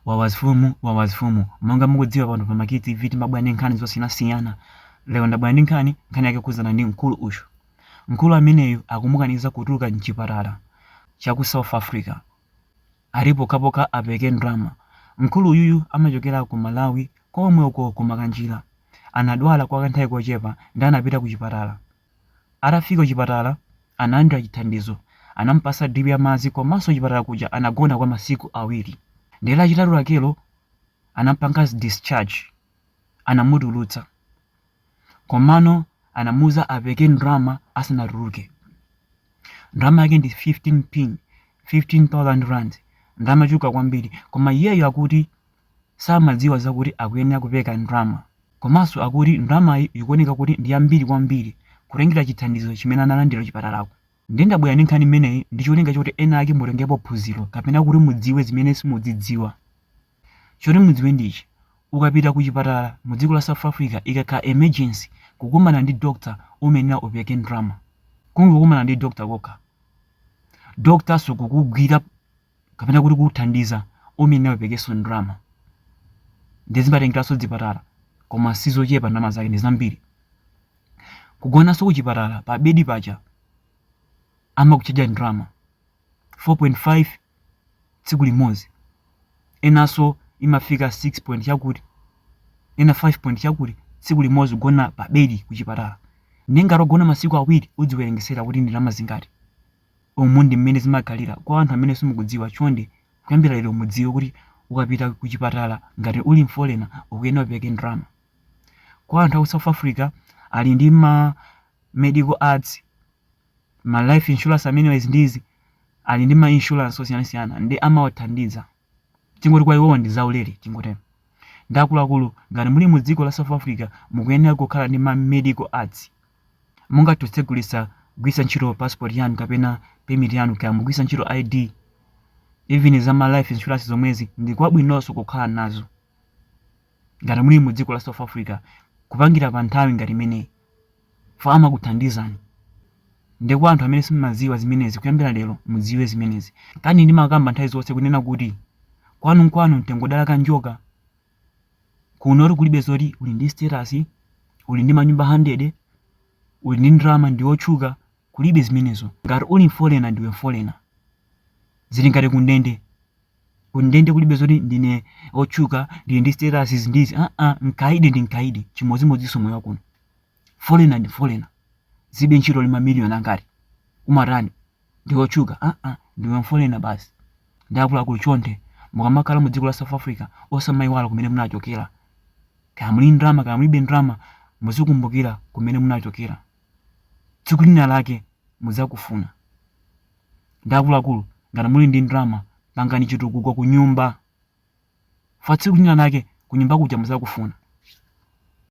Wawa a Mfumu wawa a Mfumu Monga mukudziwa pano pa Maki TV timabwera ndi nkhani zosiyanasiyana. Lero ndabwera ndi nkhani, nkhani yake ikukhudzana ndi mkulu uyu. Mkulu ameneyu akumukaniza kutuluka m'chipatala cha ku South Africa ati pokhapokha apereke ndalama. Mkulu uyuyu amachokera ku Malawi komwe uko ku Makanjira. Anadwala kwa kanthawi kochepa ndiye anapita kuchipatala. Atafika kuchipatala analandira chithandizo, anamupatsa drip ya madzi komanso kuchipatala kuja anagona kwa masiku awiri. Ndiye Lachitatu lakelo anamupanga discharge, anamutulutsa. Komano anamuuza apereke ndalama asanatuluke. Ndalama yake ndi 15 pin, 15,000 rands, ndalama yochuluka kwambiri. Koma iyeyo akuti samadziwa zakuti akuyenera kupereka ndalama komanso akuti ndalamayi ikuoneka kuti ndi yambiri kwambiri kutengera chithandizo chimene analandira kuchipatalako. Ndiye ndabwera ndi nkhani imeneyi ndi cholinga choti ena ake mutengepo phunziro kapena kuti mudziwe zimene simuzidziwa. Choti mudziwe ndi ichi, ukapita kuchipatala mu dziko la South Africa ikakhala emergency kukumana ndi doctor umayenera upereke ndalama. Kungokumana ndi doctor kokha, doctor osakukugwira kapena kuti kukuthandiza umayenera uperekenso ndrama ndiye zimatengeranso dzipatala koma sizochepa ndalama zake ndi zambiri kugonanso kuchipatala pa bedi paja amakutchaja ndrama 4.5 tsiku limodzi enanso imafika 6 point chakuti ena 5 point chakuti tsiku limodzi kugona pa bedi kuchipatala ndiye ngati ugona masiku awiri udziwerengesera kuti ndi ndalama zingati Umu ndi mmene zimakhalira kwa anthu amene simukudziwa chonde kuyambira lero mudziwe kuti ukapita kuchipatala ngati uli mfolena ukuyenera upeke ndalama. Kwa anthu aku South Africa ali ndi ma medical aids, ma life insurance amenewa izi ndi izi ali ndi ma insurance osiyanasiyana ndiye amawathandiza. tingoti kwa iwowo ndi zaulere tingotero ndiye akuluakulu ngati muli mu dziko la south africa mukuyenera kukhala ndi ma medical aids mungathe kutsegulitsa kugwiritsa ntchito passport yanu kapena permit yanu kaya mugwiritsa ntchito id even za ma life insurance zomwezi ndi kwabwinonso kukhala nazo ngati muli mu dziko la South Africa kupangira pa nthawi ngati imeneyi fa amakuthandizani ndiye kwa anthu amene simumaziwa zimenezi kuyambira lero mudziwe zimenezi kani ndimakamba nthawi zonse kunena kuti kwanu nkwanu mthengo mudalaka njoka kunotu kulibe zoti uli ndi status uli ndi manyumba 100 uli ndi ndalama ndiwe otchuka kulibe zimenezo ngati uli mfolena ndiwe mfolena zili ngati kundende ku ndende kulibe zoti ndine otchuka ndili ndi status izi ndi izi aa mkaidi ndi mkaidi chimodzimodzinso moyo wakuno foreigner ndi foreigner zilibe ntchito uli ndi ma million angati umatani ndiwe otchuka aa ndiwe mforeigner basi ndi akuluakulu chonde mukamakhala mu dziko la south africa osamayiwala kumene munachokera kaya muli ndrama kaya mulibe ndrama muzikumbukira kumene munachokera tsiku lina lake mudzakufuna ndi akuluakulu ngati muli ndi ndrama pangani chitukuko kunyumba fa tsiku lina lake kunyumba kuja muzakufuna